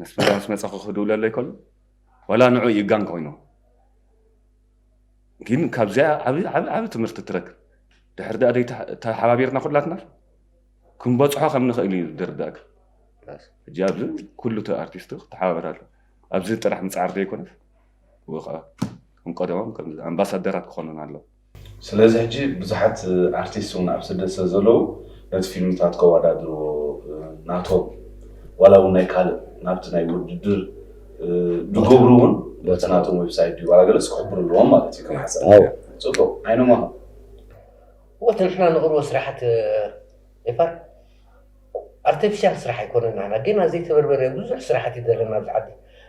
ነስመራ ምስ መጸኹ ክድውለለይ ከሎ ዋላ ንዑ ይጋን ኮይኑ ግን ካብዚኣ ዓብ ዓብ ትምህርቲ ትረክብ ድሕር ዳኣ ደይ ተሓባቢርና ኩላትና ክንበጽሖ ከም ንኽእል እዩ ድርዳእክ ሕጂ ኣብዚ ኩሉ እቲ ኣርቲስት ክተሓባበር ኣሎ ኣብዚ ጥራሕ ምፅዓር ዘይኮነስ ወ ከዓ እም ቀደሞም ኣምባሳደራት ክኾኑን ኣለዎ ስለዚ ሕጂ ብዙሓት ኣርቲስት ውን ኣብ ስደት ስለ ዘለዉ ነቲ ፊልምታት ከዋዳድርዎ ናቶም ዋላ ውን ናይ ካልእ ናብቲ ናይ ውድድር ድገብሩ ውን በቲ ናቶም ዌብሳይት ድዩ ዋላ ገለስ ክሕብሩ ኣለዎም ማለት እዩ ከም ሓሳብ ጽቡቅ ዓይኖም ኣኸ ወትንሕና ንቅርቦ ስራሓት ኤፋር ኣርተፊሻል ስራሕ ኣይኮነን ናህና ገና ዘይተበርበረ ብዙሕ ስራሕት እዩ ዘለና ኣብዚ ዓዲ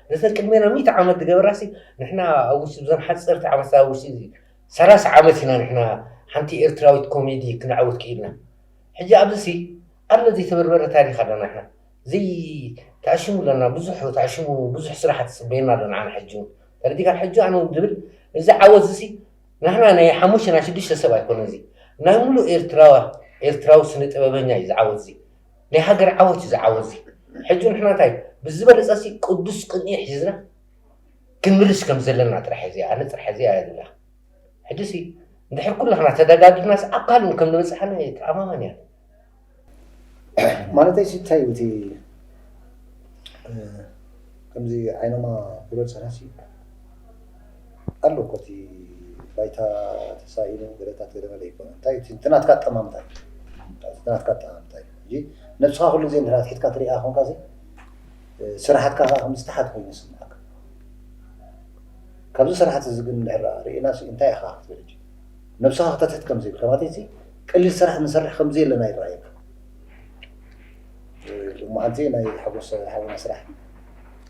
ነተን ቅድሜና ሚእቲ ዓመት ዝገበራሲ ንሕና ኣብ ውሽጢ ብዘን ሓጸርቲ ዓመትታት ኣብ ውሽጢ ሰላሳ ዓመት ኢና ንሕና ሓንቲ ኤርትራዊት ኮሜዲ ክነዕውት ክኢልና ሕጂ ኣብዚሲ ኣሎ ዘይተበርበረ ታሪኽ ኣለና ንሕና ዘይተኣሽሙ ኣለና ብዙሕ ተኣሽሙ ብዙሕ ስራሕት ጽበየና ኣሎ ንዓና ሕጂ እውን ተረዲካ ሕጂ ኣነ እውን ዝብል እዚ ዓወት እዚሲ ናህና ናይ ሓሙሽተ ናይ ሽዱሽተ ሰብ ኣይኮነን እዚ ናይ ሙሉእ ኤርትራዋ ኤርትራዊ ስነ ጥበበኛ እዩ እዚ ዓወት እዚ ናይ ሃገር ዓወት እዩ እዚ ዓወት እዚ ሕጂ ንሕና እንታይ ብዝበለጸ ሲ ቅዱስ ቅንኢ ሒዝና ክንምልስ ከም ዘለና ጥራሕ እዚ ኣነ ጥራሕ እዚ ኣያ ዝብላ ሕጂ ሲ እንድሕር ኩላህና ተደጋጊፍናስ ኣብ ካልእ ከም ንበጽሓና እየ ተኣማማኒ እያ ማለተይ ሲ እንታይ እዩ እቲ ከምዚ ዓይኖማ ብሎ ዝፀንሐ ሲ ኣሎ እኮ እቲ ባይታ ተሳኢኑ ገለታት ገለመለ ይኮነ እንታይ እዩ እቲ ናትካ ኣጠማምታ እዩ እቲ ናትካ ኣጠማምታ እዩ ሕጂ ነብስኻ ኩሉ ግዜ እንድሕር ኣትሒትካ ትሪኣ ኮንካ ሲ ስራሓትካ ከዓ ከም ዝተሓት ኮይኑ ይስምዓካ ካብዚ ስራሕት እዚ ግን እንድሕር ርኢና ሲ እንታይ ኢኻ ክትብል ሕጂ ነብስኻ ክተትሕት ከምዘይ ተባቲሲ ቀሊል ስራሕ ንሰርሕ ከምዘየለና ይረኣየካ ሎማዓንቲ ናይ ሓጎስ ሓውና ስራሕ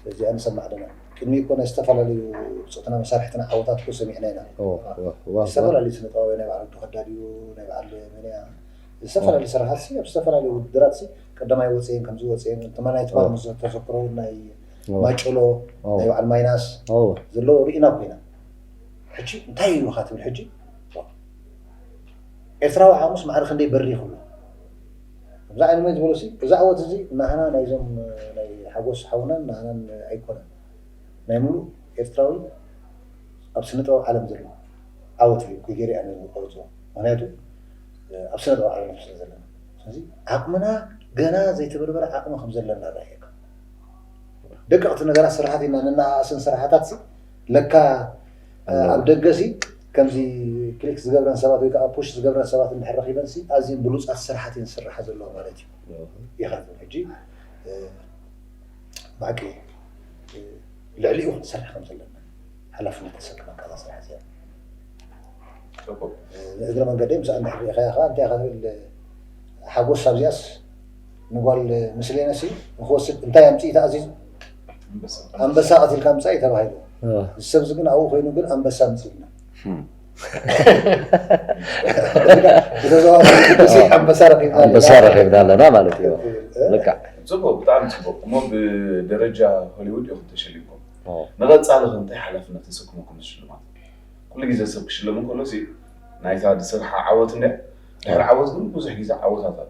እዚኣ ንሰማዕ ኣለና ቅድሚ እኮ ናይ ዝተፈላለዩ ብፆትና መሳርሕትና ዓወታት እኮ ሰሚዕና ኢና ዝተፈላለዩ ስነ ጥበባዊ ናይ በዓል ወዲ ከዳድ እዩ ናይ በዓል መንያ ዝተፈላለዩ ስራሓት ሲ ኣብ ዝተፈላለዩ ውድድራት ሲ ቀዳማይ ወፅየን ከምዚ ወፅየን ትማናይ ትማል ምስ ተዘክሮ ናይ ማጭሎ ናይ በዓል ማይናስ ዘለዎ ርኢና ኮይና ሕጂ እንታይ ኢዩ ኢኻ ትብል ሕጂ ኤርትራዊ ሓሙስ ማዕረ ክንደይ በሪኹ ኣሎ ከምዛ ዓይነመይ ዝበሎ ሲ እዚ ዓወት እዚ ናህና ናይዞም ናይ ሓጎስ ሓውናን ናህናን ኣይኮነን ናይ ሙሉእ ኤርትራዊ ኣብ ስነ ጥበብ ዓለም ዘሎ ዓወት እዩ ኩይ ገይረ ኣነ ዝቆርጾ ምክንያቱ ኣብ ስነ ጥበብ ዓለም ስለ ዘለና ስለዚ ዓቅምና ገና ዘይተበርበረ ዓቅሚ ከም ዘለና ራእየካ ደቀቅቲ ነገራት ስራሓት ኢና ነናኣእስን ስራሓታት ለካ ኣብ ደገሲ ከምዚ ክሊክ ዝገብረን ሰባት ወይ ከዓ ፑሽ ዝገብረን ሰባት እንድሕር ረኺበንሲ ኣዝየን ብሉፃት ስራሓት እየን ዝስርሓ ዘለዋ ማለት እዩ ኢኻ ትብል ሕጂ ብሓቂ ልዕሊኡ ክንሰርሕ ከም ዘለና ሓላፍነት ተሰክመካ እዛ ስራሕ እዚኣ ንእግረ መንገደይ ምስኣ እንድሕር ሪኢኻያ ከዓ እንታይ ኢኻ ትብል ሓጎስ ኣብዚኣስ ንጓል ምስሌነሲ ንክወስድ እንታይ ኣምፅኢታ ኣዚዙ ኣንበሳ ቀቲልካ ምጻእ እዩ ተባሂሉ እዚ ሰብዚ ግን ኣብኡ ኮይኑ ግን ኣንበሳ ምጺልና ኣንበሳ ረኪብና ኣለና ማለት እዩ ልክዕ ፅቡቅ ብጣዕሚ ፅቡቅ እሞ ብደረጃ ሆሊውድ ኢኹም ተሸሊምኩም ንቐፃሊ ከ እንታይ ሓላፍነት ተሰክሙኩም ሽልማት ኩሉ ግዜ ሰብ ክሽለም እንከሎ ናይታ ዝስርሓ ዓወት እንድያ ድሕሪ ዓወት ግን ብዙሕ ግዜ ዓወታት ኣሎ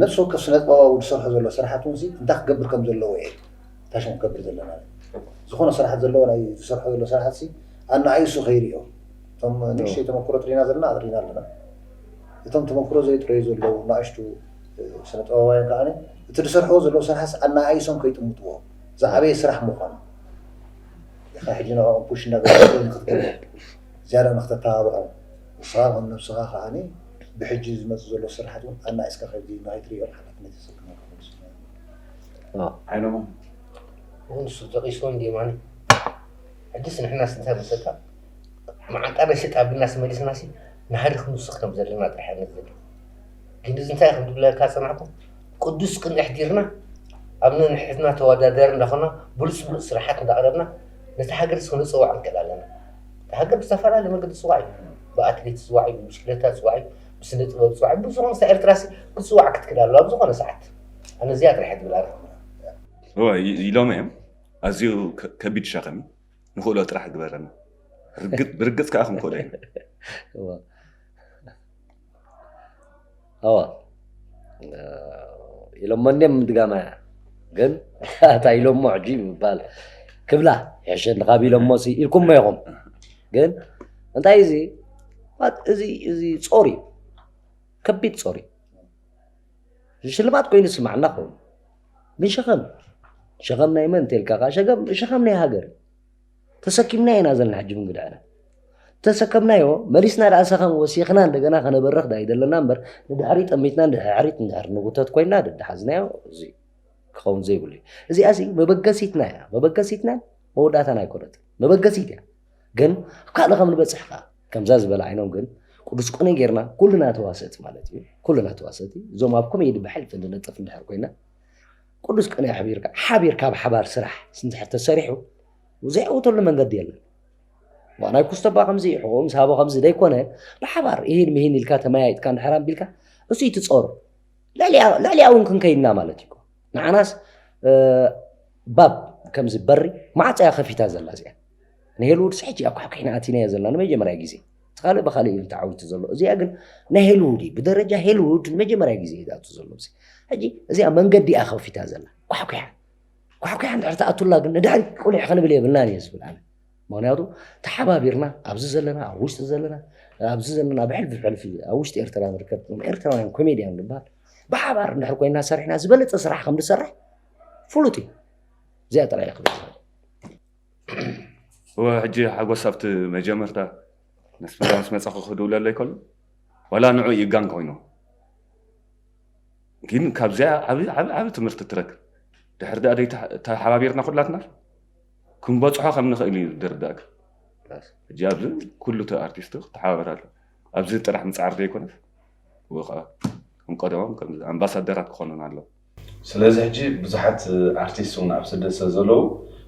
ነብሲ ወከፍ ስነጥበባዊ ዝሰርሖ ዘሎ ስራሓት ውን ሲ እንታይ ክገብር ከም ዘለዎ እየ ታሽሙ ክገብር ዘለና ዝኮነ ስራሓት ዘለዎ ናይ ዝሰርሖ ዘሎ ስራሓት ሲ ኣናኣይ እሱ ከይሪኦ እቶም ንእሽተይ ተመኩሮ ጥሪና ዘለና ኣጥሪና ኣለና እቶም ተመኩሮ ዘይጥረዩ ዘለዉ ናእሽቱ ስነጥበባውያን ከኣ እቲ ዝሰርሕዎ ዘለዉ ስራሓት ኣናኣይሶም ከይጥምትዎ ዝዓበየ ስራሕ ምኳኑ ኢካ ሕጂ ንዕኦም ፑሽ እንዳገበርካ ንክትገብር ዝያዳ ንክተተባብዖም ንስኻ ከም ነብስኻ ከኣ ብሕጂ ዝመጽእ ዘሎ ስርሓት ውን ኣናኢስካ ከምዚ ንኸይትርእዮ ሓላፍነት የሰክመካ ኩሉ ስድራቤት ሓይሎም ውን ንሱ ጠቂስዎ እንድዩ የማነ ሕጂስ ንሕናስ እንታይ መሰልካ መዓንጣ ናይ ሰጥ ኣብልናስ መሊስናሲ ንሃዲ ክንውስኽ ከም ዘለና ጥራሕ እየ ንዝብል ግን እዚ እንታይ ከም ዝብለካ ዝጸናሕኩ ቅዱስ ቅንኢ ኣሕዲርና ኣብ ነንሕድሕድና ተወዳዳሪ እንዳኾና ብሉጽ ብሉጽ ስርሓት እንዳቕረብና ነታ ሃገርስ ክነጸውዓ ንክእል ኣለና ሃገር ብዝተፈላለየ መንገዲ ትጽዋዕ እዩ ብኣትሌት ትጽዋዕ እዩ ብብሽክለታ ትጽዋዕ እዩ ብስነ ጥበብ ትጽዋዕ እዩ ብዙ ምስ ኤርትራ ክትጽዋዕ ክትክእል ኣለዋ ኣብ ዝኾነ ሰዓት ኣነ እዚኣ ጥራሕ ትብል ኣለኹ ኢሎም እዮም ኣዝዩ ከቢድ ሸኽም ንኽእሎ ጥራሕ ግበረና ብርግፅ ከዓ ክንክእሎ ኢና ኣዋ ኢሎሞ እንዲም ድጋማ እያ ግን ኣታ ኢሎሞ ሕጂ ምባል ክብላ ሕሸኒ ካብ ኢሎሞ ሲ ኢልኩሞ ኢኹም ግን እንታይ እዚ እዚ እዚ ጾር እዩ ከቢድ ጾር እዩ ሽልማት ኮይኑ ስማዕና ኮይኑ ግን ሸኸም ሸኸም ናይ መን እንተልካ ከዓ ሸኸም ናይ ሃገር እዩ ተሰኪምናዮ ኢና ዘለና ሕጂ ብንግድዐና ተሰከምናዮ መሊስና ደኣ ሰኸም ወሲኽና እንደገና ከነበርኽ ዳይ ዘለና እምበር ንድሕሪ ጠሚትና ንድሕሪት ንድሕሪ ንጉተት ኮይና ደድሓዝናዮ እዚ ክኸውን ዘይብሉ እዩ እዚኣ እዚ መበገሲትና እያ መበገሲትና መወዳእታና ኣይኮነት መበገሲት እያ ግን ኣብ ካልእ ከም ንበፅሕ ከዓ ከምዛ ዝበለ ዓይኖም ግን ቅዱስ ቆነ ጌርና ኩልና ተዋሰእቲ ማለት እዩ ኩልና ተዋሰእቲ እዞም ኣብ ኮሜዲ ብሕልፊ ንነጥፍ እንድሕር ኮይና ቅዱስ ቅኔ ኣሕቢርካ ሓቢርካ ኣብ ሓባር ስራሕ ስንድሕር ተሰሪሑ ዘይዕውተሉ መንገዲ የለን ዋናይ ኩስተባ ከምዚ ሕቆ ምስ ሃቦ ከምዚ ዘይኮነ ብሓባር ይህን ምሂን ኢልካ ተመያይጥካ እንድሕር ኣቢልካ እሱ ይትፀሩ ልዕሊያ እውን ክንከይድና ማለት እዩ ንዓናስ ባብ ከምዚ በሪ ማዕፀያ ከፊታ ዘላ እዚኣ ንሄልውድስ ሕጂ ኣኳሕኪሕና ኣቲናዮ ዘለና ንመጀመርያ ግዜ እቲ ካልእ ብካልእ እዩ ተዓዊቱ ዘሎ እዚኣ ግን ናይ ሄልውድ እዩ ብደረጃ ሄልውድ ንመጀመርያ ግዜ እዩ ዝኣቱ ዘሎ እዚ ሕጂ እዚኣ መንገዲ እያ ከፊታ ዘላ ኳሕኲሓ ኳሕኲሓ እንድሕር ትኣቱላ ግን ንድሕሪ ቁሊሕ ክንብል የብልናን እየ ዝብል ኣነ ምክንያቱ ተሓባቢርና ኣብዚ ዘለና ኣብ ውሽጢ ዘለና ኣብዚ ዘለና ኣብ ሕልፊ ሕልፊ ኣብ ውሽጢ ኤርትራ ንርከብ ኤርትራውያን ኮሜድያን ንበሃል ብሓባር እንድሕር ኮይና ሰሪሕና ዝበለፀ ስራሕ ከም ዝሰርሕ ፍሉጥ እዩ እዚኣ ጥራይ ክብል እወ ሕጂ ሓጎስ ኣብቲ መጀመርታ ምስ ፍረ ምስ መጻኹ ክድውለለይ ከሎ ዋላ ንዑ ይጋን ኮይኑ ግን ካብዚኣ ዓብ ዓብ ዓብ ትምህርቲ ትረክብ ድሕር ድኣ ደይ ተሓባቢርና ኩላትና ክንበጽሖ ከም ንኽእል እዩ ድርዳእክ ሕጂ ኣብዚ ኩሉ እቲ ኣርቲስት ክተሓባበር ኣሎ ኣብዚ ጥራሕ ምጽዓር ዘይኮነስ ወይ ከዓ ከም ቀደሞም ከም ኣምባሳደራት ክኾኑና ኣለዎ ስለዚ ሕጂ ብዙሓት ኣርቲስት ውን ኣብ ስደት ስለ ዘለዉ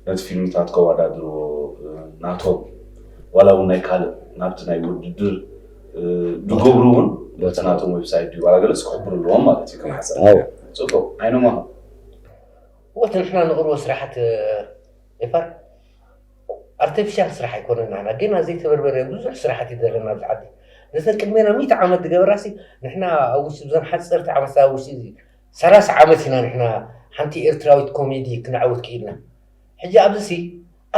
ነቲ ፊልምታት ከዋዳድርዎ ናቶም ዋላ ውን ናይ ካልእ ናብቲ ናይ ውድድር ድገብሩ ውን በቲ ናቶም ዌብሳይት ድዩ ዋላ ገለስ ክሕብሩ ኣለዎም ማለት እዩ ከመሓሰብ ጽቡቅ ዓይኖም ኣኸ ወትንሕና ንቅርቦ ስራሓት ኤፋር ኣርተፊሻል ስራሕ ኣይኮነን ናህና ገና ዘይተበርበረ ብዙሕ ስራሕት እዩ ዘለና ኣብዚ ዓዲ ነዘን ቅድሜና ሚእቲ ዓመት ዝገበራሲ ንሕና ኣብ ውሽጢ ብዘን ሓፀርቲ ዓመት ኣብ ውሽጢ እዚ ሰላሳ ዓመት ኢና ንሕና ሓንቲ ኤርትራዊት ኮሜዲ ክነዕውት ክኢልና ሕጂ ኣብዚ ሲ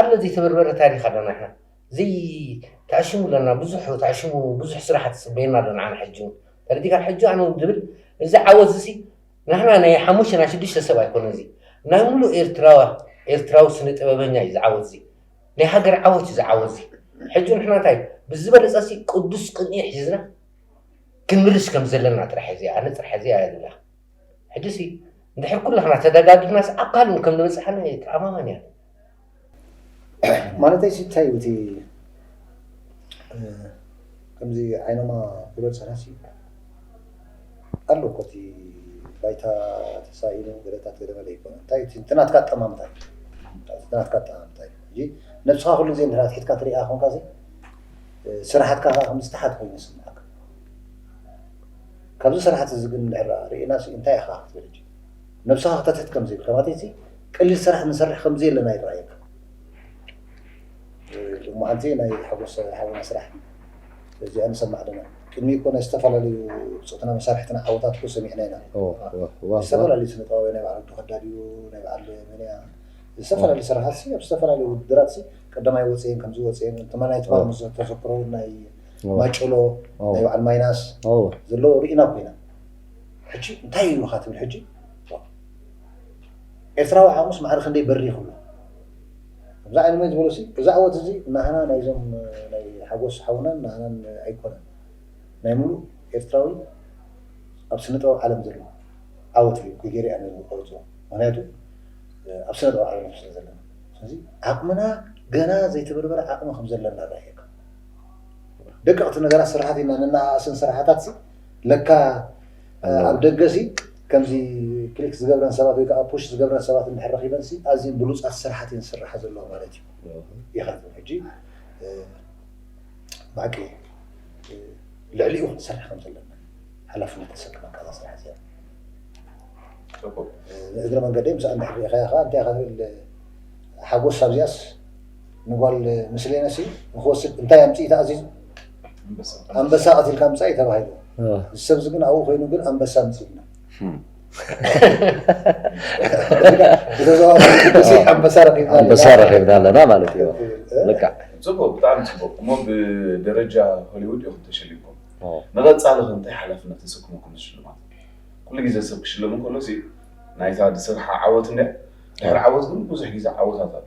ኣሎ ዘይተበርበረ ታሪክ ኣለና ንሕና ዘይተዕሽሙ ኣለና ብዙሕ ተዕሽሙ ብዙሕ ስራሕት ፅበየና ኣሎ ንዓና ሕጂ እውን ተረዲእካ ሕጂ ኣነ እውን ዝብል እዚ ዓወት እዚ ሲ ናህና ናይ ሓሙሽተ ናይ ሽዱሽተ ሰብ ኣይኮነን እዚ ናይ ሙሉእ ኤርትራዋ ኤርትራዊ ስነ ጥበበኛ እዩ እዚ ዓወት እዚ ናይ ሃገር ዓወት እዩ እዚ ዓወት እዚ ሕጂ ንሕና እንታይ ብዝበለጸ ሲ ቅዱስ ቅንኢ ሒዝና ክንምልስ ከም ዘለና ጥራሕ እዚ ኣነ ጥራሕ እዚ ኣያ ዝብላ ሕጂ ሲ እንድሕር ኩላህና ተደጋጊፍናስ ኣብ ካልእ ከም ዝበጽሓና እየ ተኣማማኒ እያ ማለተይ ሲ እንታይ እቲ ከምዚ ዓይኖማ ብሎት ሰናሲ ኣሎ እኮ እቲ ባይታ ተሳኢኑ ገለታት ገለመለ ይኮነ እንታይ እቲ ናትካ ኣጠማምታ እዩ ናትካ ኣጠማምታ እዩ ሕጂ ነብስኻ ኩሉ ግዜ እንድሕር ኣትሒትካ ትሪኣ ኮንካ ሲ ስራሓትካ ከዓ ከም ዝተሓት ኮይኑ ይስምዓካ ካብዚ ስራሕቲ እዚ ግን እንድሕር ርኢና ሲ እንታይ ኢኻ ክትብል ነብስኻ ክተትሕት ከምዘይብልካ ማለት እቲ ቀሊል ስራሕ ንሰርሕ ከምዘየለና ይረኣየካ ሎሚ መዓልቲ ናይ ሓጎስ ሓውና ስራሕ እዚኣ ንሰማዕ ኣለና ቅድሚ እኮ ናይ ዝተፈላለዩ ብፆትና መሳርሕትና ዓወታት እኮ ሰሚዕና ኢና ዝተፈላለዩ ስነ ጥበባዊ ናይ በዓል ወዱ ከዳድዩ ናይ በዓል መንያ ዝተፈላለዩ ስራሓት ሲ ኣብ ዝተፈላለዩ ውድድራት ሲ ቀዳማይ ወፅየን ከምዚ ወፅየን ተማናይ ትማር ምስ ተዘክሮ ናይ ማጭሎ ናይ በዓል ማይናስ ዘለዎ ርኢና ኮይና ሕጂ እንታይ ኢሉካ ትብል ሕጂ ኤርትራዊ ዓቕሙስ ማዕረ ክንደይ በሪኹ ኣሎ ከምዚ ዓይነ መን ዝበሎሲ እዚ ኣወት እዚ ናህና ናይዞም ናይ ሓጎስ ሓውናን ናህናን ኣይኮነን ናይ ሙሉእ ኤርትራዊ ኣብ ስነ ጥበብ ዓለም ዘሎ ዓወት እዩ ኮይገይረ እያ ነዚ ዝቆርፅዎ ምክንያቱ ኣብ ስነ ጥበብ ዓለም ስለ ዘለና ስለዚ ዓቕምና ገና ዘይተበርበረ ዓቕሚ ከም ዘለና ራእየካ ደቀቕቲ ነገራት ስራሓት ኢና ነናኣእስን ስራሓታት ለካ ኣብ ደገሲ ከምዚ ክሊክ ዝገብረን ሰባት ወይ ከኣ ፑሽ ዝገብረን ሰባት እንድሕር ረኺበንሲ ኣዝየን ብሉጻት ስራሓት እየን ዝስርሓ ዘለዋ ማለት እዩ ኢኻ ትብል ሕጂ ብሓቂ ልዕሊኡ ክንሰርሕ ከም ዘለና ሓላፍነት ተሰክመካ እዛ ስራሕ እዚኣ እግረ መንገደይ ምስኣ እንድሕር ርኢኻያ ከኣ እንታይ ኢኻ ትብል ሓጎስ ኣብዚኣስ ንጓል ምስሌነ ሲ ንክወስድ እንታይ ኣምፅኢ ተኣዚዙ ኣንበሳ ቀቲልካ ምፃእ እዩ ተባሂሉ እዚ ሰብ እዚ ግን ኣብኡ ኮይኑ ግን ኣንበሳ ምፅኢልና ኣንበሳ ረኪብና ኣለና ማለት እዩ ልክዕ ፅቡቅ ብጣዕሚ ፅቡቅ እሞ ብደረጃ ሆሊውድ ኢኹም ተሸሊምኩም ንቐፃሊ ከ እንታይ ሓላፍነት ተሰክምኩም ሽልማት ኩሉ ግዜ ሰብ ክሽለም እንከሎ ናይታ ዝስርሓ ዓወት እንድያ ድሕሪ ዓወት ግን ብዙሕ ግዜ ዓወታት ኣሎ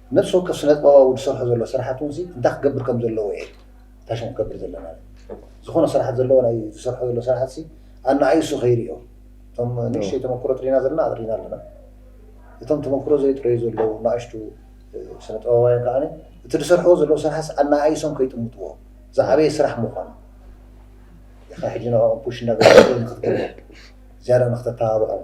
ነፍሲ ወከፍ ስነጥበባዊ ዝሰርሖ ዘሎ ስራሓት እውን እንታይ ክገብር ከም ዘለዎ እየ እታ ሽም ክገብር ዘለና ዝኾነ ስራሓት ዘለዎ ናይ ዝሰርሖ ዘሎ ስራሓት ኣናኣይ እሱ ከይሪኦ እቶም ንእሽተይ ተመክሮ ጥሪና ዘለና ኣጥሪና ኣለና እቶም ተመክሮ ዘይጥረዩ ዘለዉ ናእሽቱ ስነጥበባውያን ከዓ እቲ ዝሰርሕዎ ዘለዉ ስራሓት ኣናኣይሶም ከይጥምጥዎ ዝዓበየ ስራሕ ምዃኑ ኢኻ ሕጂ ንዕኦም ፑሽ እናገበርካ ንክትገብር ዝያዳ ንክተተባብዖም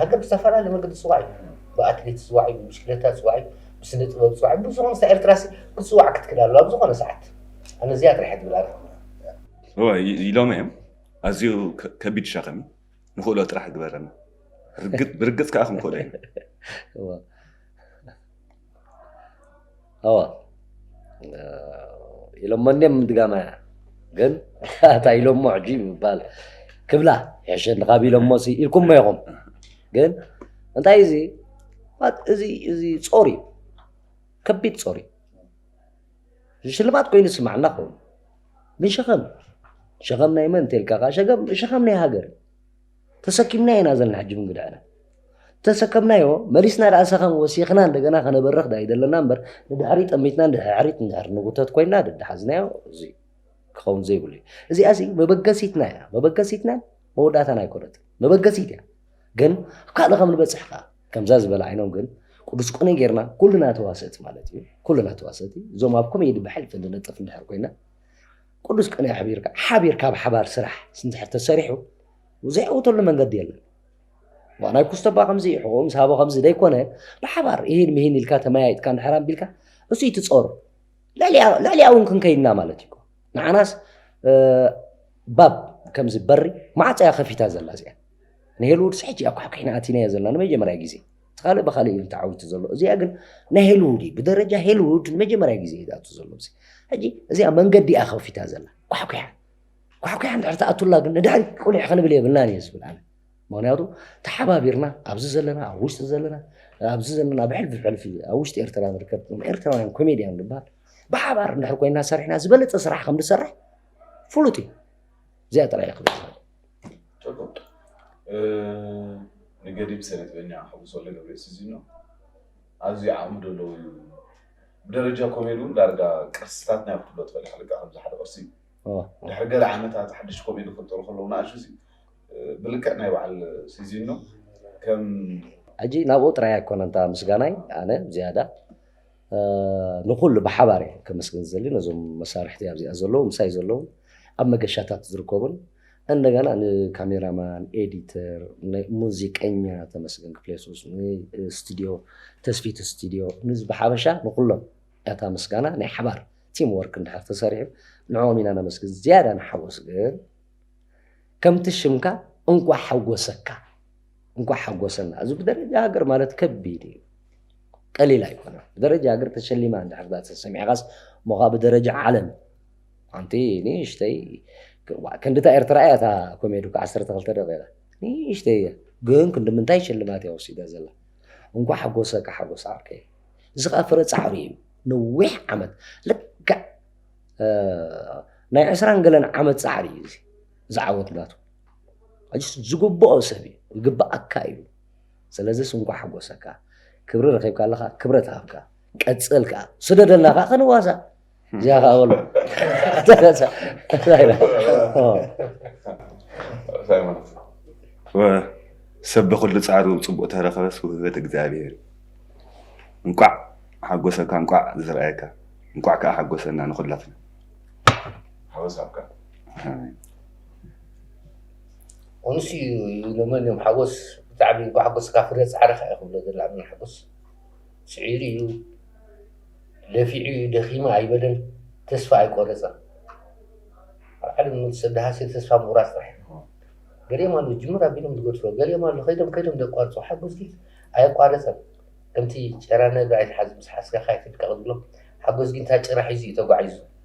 ሃገር ብዝተፈላለየ መንገዲ ትጽዋዕ እዩ። ብኣትሌት ትጽዋዕ እዩ፣ ብብሽክለታ ትጽዋዕ እዩ፣ ብስነ ጥበብ ትጽዋዕ እዩ፣ ብዝኾነ ሳዕ ኤርትራሲ ክትጽዋዕ ክትክእል ኣለዋ ኣብ ዝኾነ ሰዓት። ኣነ እዚኣ ጥራሕ እየ ዝብል ኣነ። እዋይ ኢሎመ እዮም ኣዝዩ ከቢድ ሸኽም እዩ ንኽእሎ ጥራሕ ግበረና ብርግጽ ከኣ ክንክእሎ ኢና። ኣዋ ኢሎሞ እንዲም ምድጋማ እያ ግን ኣታ ኢሎሞ ሕጂ ምባል ክብላ ሕሸኒ ካብ ኢሎሞ ሲ ኢልኩሞ ኢኹም ግን እንታይ እዚ እዚ እዚ ጾር እዩ ከቢድ ጾር እዩ ሽልማት ኮይኑ ስማዕና ክኸውን ግን ሸኸም ሸኸም ናይ መን እንተልካ ከዓ ሸኸም ናይ ሃገር እዩ ተሰኪምናዮ ኢና ዘለና ሕጂ ብንግድዕና ተሰከምናዮ መሊስና ደኣ ሰኸም ወሲኽና እንደገና ከነበርኽ ዳ ይደለና እምበር ንድሕሪ ጠሚትና ንድሕሪት ንድሕሪ ንጉተት ኮይና ደድሓዝናዮ እዚ ክኸውን ዘይብሉ እዩ እዚኣ እዚ መበገሲትና እያ መበገሲትና መወዳእታና ኣይኮነት መበገሲት እያ ግን ኣብ ካልእ ከም ንበፅሕ ከዓ ከምዛ ዝበለ ዓይኖም ግን ቅዱስ ቆነ ጌርና ኩልና ተዋሰእቲ ማለት እዩ ኩልና ተዋሰእቲ እዞም ኣብ ኮሜዲ ብሕልፊ ንነጥፍ እንድሕር ኮይና ቅዱስ ቅኔ ኣሕቢርካ ሓቢርካ ኣብ ሓባር ስራሕ ስንድሕር ተሰሪሑ ዘይዕውተሉ መንገዲ የለን ዋናይ ኩስተባ ከምዚ ሕቑኡ ምስ ሃቦ ከምዚ ዘይኮነ ብሓባር ይህን ምሂን ኢልካ ተመያይጥካ እንድሕር ኣቢልካ እሱ ይትፀሩ ልዕሊያ እውን ክንከይድና ማለት እዩ ንዓናስ ባብ ከምዚ በሪ ማዕፀያ ከፊታ ዘላ እዚኣ ንሄልውድስ ሕጂ እያ ኳሕኲሕና ኣቲናዮ ዘለና ንመጀመርያ ግዜ እቲ ካልእ ብካልእ እዩ ተዓዊቱ ዘሎ እዚኣ ግን ናይ ሄልውድ እዩ ብደረጃ ሄልውድ ንመጀመርያ ግዜ እዩ ዝኣቱ ዘሎ ሕጂ እዚኣ መንገዲ እያ ከፊታ ዘላ ኳሕኩሓ ኳሕኩሓ እንድሕር ትኣቱላ ግን ንድሕሪ ቁሊሕ ክንብል የብልናን እየ ዝብል ኣነ ምክንያቱ ተሓባቢርና ኣብዚ ዘለና ኣብ ውሽጢ ዘለና ኣብዚ ዘለና ኣብ ሕልፊ ሕልፊ ኣብ ውሽጢ ኤርትራ ንርከብ ኤርትራውያን ኮሜድያን ንበሃል ብሓባር እንድሕር ኮይና ሰሪሕና ዝበለፀ ስራሕ ከም ንሰርሕ ፍሉጥ እዩ እዚኣ ጥራይ እየ ክብል ዝኽእል ጨጎ ንገዲብ ሰነጥበኛ ሓጎስ ወልደገብርኤል ስዚኖ ኣዝዩ ዓቕሚ ደለዎ እዩ ብደረጃ ኮሜዲ እውን ዳርጋ ቅርስታት ናይ ክፍሎ ትፈልካ ልክዕ ከምዚ ሓደ ቅርሲ እዩ ኦ፣ ድሕሪ ገለ ዓመታት ሓድሽ ኮሜዲ ክፍጠሩ ከለዉ ንኣሹ እዚ ብልክዕ ናይ በዓል ስዚኖ ከም ሕጂ ናብኡ ጥራይ ኣይኮነን እታ ምስጋናይ ኣነ ዝያዳ ንኹሉ ብሓባር እየ ከመስግን ዝደሊ ነዞም መሳርሕቲ ኣብዚኣ ዘለዉ ምሳይ ዘለዉ ኣብ መገሻታት ዝርከቡን እንደገና ንካሜራማን ኤዲተር ሙዚቀኛ ተመስገን ክፍሌሱስ ንስቱድዮ ተስፊት ስቱድዮ ንዚ ብሓበሻ ንኩሎም ያታ ምስጋና ናይ ሓባር ቲም ወርክ እንድሕር ተሰሪሑ ንዕኦም ኢና ነመስግን ዝያዳ ንሓወስ ግን ከምቲ ሽምካ እንኳ ሓወሰካ እንኳዕ ሓጎሰና እዚ ብደረጃ ሃገር ማለት ከቢድ እዩ ቀሊል ኣይኮነ ብደረጃ ሃገር ተሸሊማ እንድሕር ዳ ተሰሚዕካስ እሞ ከዓ ብደረጃ ዓለም ሓንቲ ንእሽተይ ክንዲታ ኤርትራ እያ እታ ኮሜዲ እኮ ዓሰርተ ክልተ ደቂቃ ንእሽተይ እያ ግን ክንዲ ምንታይ ሽልማት እያ ወሲዳ ዘላ እንኳ ሓጎሰካ ሓጎስ ዓርከይ እዚ ከዓ ፍረ ፃዕሪ እዩ ነዊሕ ዓመት ልክዕ ናይ ዕስራን ገለን ዓመት ፃዕሪ እዩ እዚ ዝዓወት ናቱ ሕጅስ ዝግብኦ ሰብ እዩ ይግብኣካ እዩ ስለዚ ስንኳ ሓጎሰካ ክብሪ ረኺብካ ኣለኻ ክብረት ሃብካ ቀፅል ከዓ ስደደና ከዓ ከንዋሳ እዚኣ ከዓ በሎ ሰብ ብኩሉ ፃዕሩ ፅቡቅ ተረከበስ ውህበት እግዚኣብሔር እንቋዕ ሓጎሰካ እንቋዕ ዝረኣየካ እንቋዕ ከዓ ሓጎሰና ንኩላትና ሓወሳብካ ኡንስ እዩ ይብሎመን እዮም ሓጎስ ብጣዕሚ እዩ ጓሓጎስካ ፍረ ፃዕርኻ እዩ ክብሎ ዘሎ ኣነ ሓጎስ ፅዒሩ እዩ ለፊዑ እዩ ደኺመ ኣይበለን ተስፋ ኣይቆረፀን ኣብ ዓለም ንመቱ ሰብ ደሃሲ ተስፋ ምቑራፅ ጥራሕ እዩ ገሊኦም ኣሉ ጅምር ኣቢሎም ዝገድፎ ገሊኦም ኣሉ ከይዶም ከይዶም ዘቋርፁ ሓጎስ ግን ኣየቋረፀን ከምቲ ጭራ ነብሪ ኣይትሓዝ ምስ ሓስካኻ ኣይትድቀቕ ዝብሎ ሓጎስ ግን እታ ጭራ ሒዙ እዩ ተጓዒዙ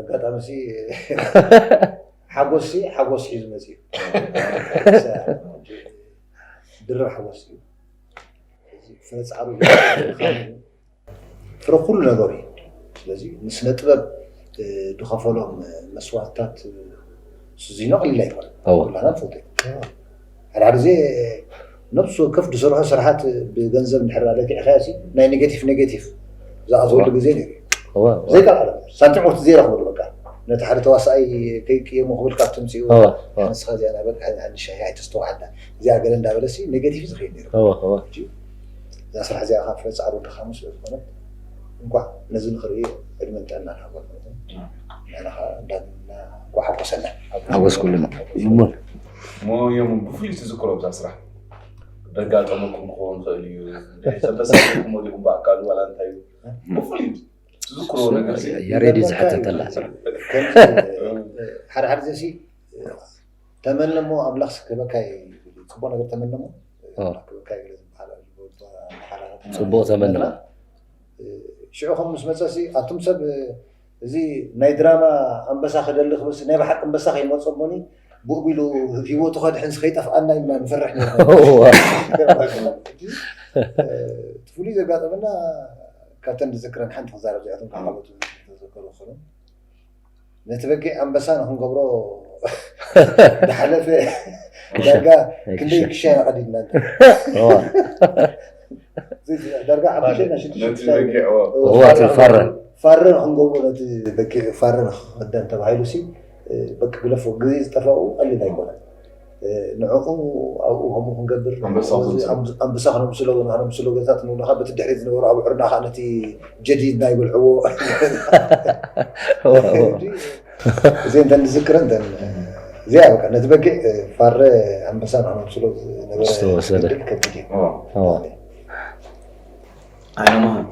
ኣጋጣሚ ሲ ሓጎስ ሲ ሓጎስ ሒዙ መፅኡ ድርብ ሓጎስ እዩ ፍረ ፃዕሩ ፍረ ኩሉ ነገሩ እዩ ስለዚ ንስነ ጥበብ ዝኸፈሎም መስዋእትታት ስዚኖ ቀሊል ኣይኮነ ኩላና ንፈልጦ ሓደ ግዜ ነብሲ ወከፍ ድስርሖ ስርሓት ብገንዘብ እንድሕር ዳኣ ለኪዕካዮሲ ናይ ኔገቲፍ ኔገቲፍ ዝኣትወሉ ግዜ ነይሩ እዋ እዩ። እዋ ዘይካ ቃላት ሳንቲም ወርቲ ዘይረኽበሉ በቃ ነቲ ሓደ ተዋሳኣይ ከይቅየሞ ክብል ካብ ትምጽኡ እዋ እዋ ንስኻ እዚኣ ናይ በቃ ናይ ንሻሂ ኣይተስተውዓላ እዚኣ ገለ እንዳበለሲ ኔገቲፍ እዩ ዝኸይድ ነይሩ እዋ እዋ ሕጂ እዛ ስራሕ እዚኣ ካብ ፍረ ጻዕሩ ድኻሙ ስለ ዝኾነት እንቋዕ ነዚ ንኽርኢ ዕድመን ጥዕናን ሃቦ ንሕና ከኣ ዳግም እንቋዕ ሓጎሰና ሓጎስኩልና። እሙን እሞ የሙን ብፍሉይ ትዝክሮ ብዛ ስራሕ ደጋጠመኩም ክኸውን ይኽእል እዩ ተበሳኹም ወዲኹም ብኣካሉ ዋላ እንታይ እዩ ብፍሉይ ትዝክሮ ነገር ያሬድ እዩ ዝሕተተላ ሓደ ሓደ ዘሲ ተመነ እሞ ኣምላኽ ስክበካ ፅቡቅ ነገር ተመነ እሞ ክበካ ፅቡቅ ተመነ ሽዑ ከም ምስ መፀሲ ኣቱም ሰብ እዚ ናይ ድራማ ኣንበሳ ክደሊ ክብልሲ ናይ ብሓቂ ኣንበሳ ከይመጾ እሞኒ ብኡብ ኢሉ ሂወቱ ከድሕንሲ ከይጠፍኣና ኢልና ንፈርሕ ነርና እቲ ፍሉይ ዘጋጠመና ካብተን ዝዝክረን ሓንቲ ክዛረብ ዚኣቶም ካዓበቱ ተዘከሩ ክኸኑ ነቲ በጊዕ ኣንበሳ ንክንገብሮ ዝሓለፈ ዳርጋ ክንደይ ክሻ ኢና ቀዲድና ዳርጋ ሓሙሽተ ናይ ሽዱሽተ ነቲ ክሳብ- በጊዕዎ እዎ፣ እዎ፣ እቲ ፋረ ፋረ ንክንገብሮ ነቲ በጊዕ ፋረ ንክኽደን ተባሂሉ ሲ በቂ ግለፎ ግዜ ዝጠፋኡ ቀሊል ኣይኮነን እ፣ ንዕኡ ኣብኡ ከምኡ ክንገብር ኣንበሳ እዚ ክንስሎ። ኣንብ- ኣንበሳ ክነምስሎ ወይ ንክነምስሎ ገታት ንብለካ በቲ ድሕሪት ዝነበሩ ኣብዑርና ከዓ ነቲ ጀዲድና ይበልዕዎ እዎ፣ እዎ። እዚኤን እተን ንዝክረን እተን እዚኣ በቃ ነቲ በጊዕ ፋረ ኣንበሳ ንክነብስሎ ዝነበረ ዝተወሰደ። ገድል ከቢድ እዩ ኦ። ኣይነማሃን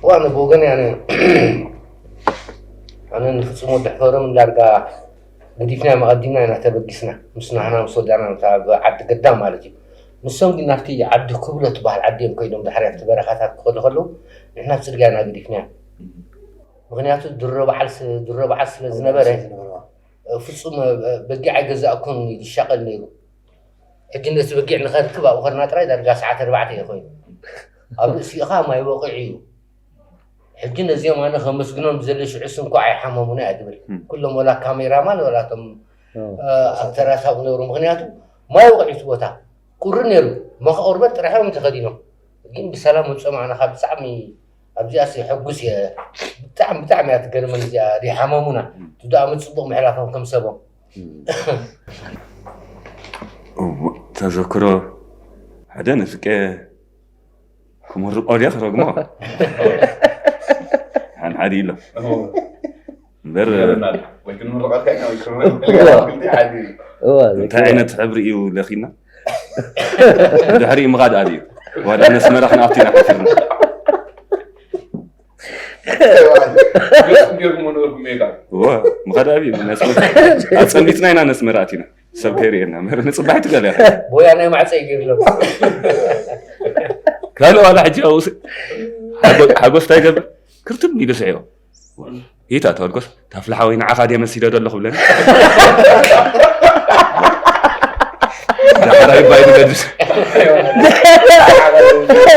ዋነ ብወገን ያነ ኣነ ንፍፁም ወዲ ሕፈርም ዳርጋ ገዲፍና መቐዲምና ኢና ተበጊስና ምስ ናህና ምስ ወዳና ነታ ኣብ ዓዲ ገዳ ማለት እዩ ንሶም ግን ናብቲ ዓዲ ክብሎ ትበሃል ዓዲ እዮም ኮይዶም ድሕሪ ኣብቲ በረኻታት ክኸዱ ከለዉ ንሕና ኣብ ፅርግያ ኢና ገዲፍናዮም ምክንያቱ ድሮ በዓል ስ- ድሮ በዓል ስለ ኣብ ዝነበረ ርእሲ ዝነበረ ዋ። እ፣ ፍጹም እ፣ እ፣ በጊዕ ኣይገዛእኩን ኢሉ ይሻቐል ነይሩ ሕጂ ነቲ በጊዕ ንኸርክብ ኣብኡ ኸድና ጥራይ ዳርጋ ሰዓት ኣርባዕተ እዩ ኮይኑ ኣብ ርእሲኻ ማይ ወቒዑ እዩ ሕጂ ነዚኦም ኣነ ከመስግኖም ዝደሊ ሽዑ ስንኳ ኣይሓመሙና እያ ትብል ም። ኩሎም ወላ ካሜራማን ወላ እቶም ዋው። እ፣ ኣክተራት ኣብኡ ነብሩ ምክንያቱ ማይ ወቒዑ እቲ ቦታ ቁሪ ነይሩ መኸ ቁርበት ጥራሕ እዮም ተኸዲኖም ግን ብሰላም ወጾም ኣነ ካብ ብጣዕሚ ኣብዚኣሲ ሕጉስ እየ ብጣዕሚ ብጣዕሚ እያ ትገርመኒ እዚኣ ዘይሓመሙና ትድኣሙ ፅቡቅ ምሕላፎም ከም ሰቦም ተዘክሮ ሓደ ንፍቄ ክምርቆ ድየ ክረግሞ ሓንሓዲ ኢሎ እንታይ ዓይነት ሕብሪ እዩ ለኪና ድሕሪ ምኻድ ኣል እዩ ዋዳ ነስመራ ክንኣቱ ኢና ሓፊርና ምኻድ ኣብ እዩ ኣፀሚትና ኢና ነስመራ ኣቲና ሰብ ከይርእየና ንፅባሕ ትገለ ቦያ ናይ ማዕፀ ይገርሎ ካልእ ዋላ ሕጂ ሓጎስታ ይገብር ክርትም ኢሉ ስዒቦ ኢታ ተወርቆስ ታፍላሓ ወይ ንዓኻ ድየ መሲለ ዶ ኣለኹ ብለኒ ዳሕራይ ባይ ንገድስ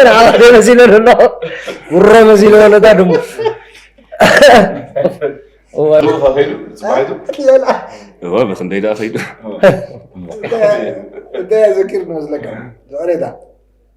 ንዓኻ ድየ መሲለ ዶ ኣለኹ ጉሮ መሲለ ዶ ኣለታ ድሙ እወ ብክንደይ ደኣ ከይዱ እንታይ ዘኪር ንመስለካ ዝዕሬታ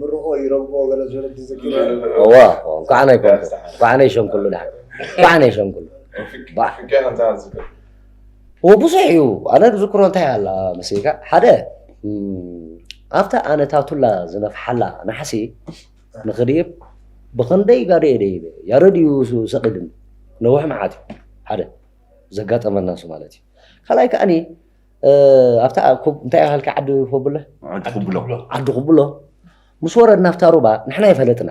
ምርቆ ይረግቦ ገለ ዝበለ ዝዘክር እዋ እንኳዕ ናይ ኮንኩ እንኳዕ ናይ ሸንኩሉ ድሓ እንኳዕ ናይ ሸንኩሉ ብዙሕ እዩ ኣነ ዝክሮ እንታይ ኣላ መሲልካ ሓደ ኣብታ ኣነ ታቱላ ዝነፍሓላ ናሕሲ ንክድይብ ብክንደይ ጋደ እየ ደይበ ያረድ እዩ ሰቂድን ነውሕ መዓት እዩ ሓደ ዘጋጠመና እሱ ማለት እዩ ካልኣይ ከዓኒ ኣብታ ኩብ እንታይ ያህልካ ዓዲ ኩብሎ ዓዲ ኩብሎ ዓዲ ኩብሎ ምስ ወረድና ኣብታ ሩባ ንሕና ይፈለጥና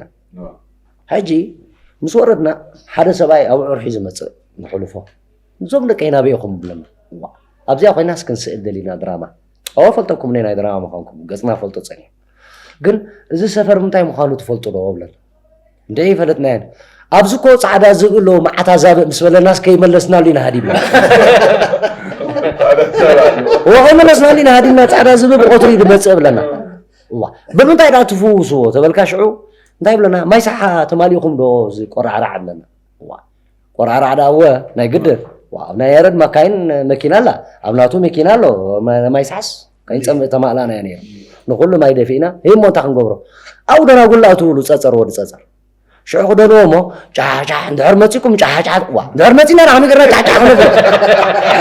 ሕጂ ምስ ወረድና ሓደ ሰብኣይ ኣብዑር ሒዙ መፅእ ንሕልፎ እዞም ደቂ ናበይ ኢኹም ብለና ኣብዚኣ ኮይና ስክንስእል ደሊና ድራማ ኣወ ፈልጠኩም ናይ ድራማ ምዃንኩም ገፅና ፈልጦ ፀኒሑ ግን እዚ ሰፈር ምንታይ ምዃኑ ትፈልጡ ዶ ብለና እንደ ይፈለጥናየን ኣብዚ ኮ ፃዕዳ ዝብኢ ኣለዎ መዓት ኣዛብእ ምስ በለናስ ከይመለስናሉ ኢና ሃዲምና ወኸይመለስናሉ ኢና ሃዲምና ፃዕዳ ዝብኢ ብቆትሪ ድመፅእ ብለና ብምንታይ ዳ ትፍውስዎ ተበልካ ሽዑ እንታይ ብለና ማይ ሰሓ ተማሊእኹም ዶ እዚ ቆራዕራዕ ኣለና ቆራዕራዕ ዳ እወ ናይ ግድን ኣብ ናይ ያረድ መካይን መኪና ኣላ ኣብ ናቱ መኪና ኣሎ ማይ ሰሓስ ከይንፀምእ ተማእላናዮ ነይሩ ንኩሉ ማይ ደፊእና ህይ እሞ እንታይ ክንገብሮ ኣብኡ ደራጉላ እትብሉ ፀፀር ወዲ ፀፀር ሽዑ ክደልዎ እሞ ጫሕጫሕ እንድሕር መፂኩም ጫሕጫሕ ዋ እንድሕር መፂና ንዓሚ ገርና ጫሕጫሕ ክነብር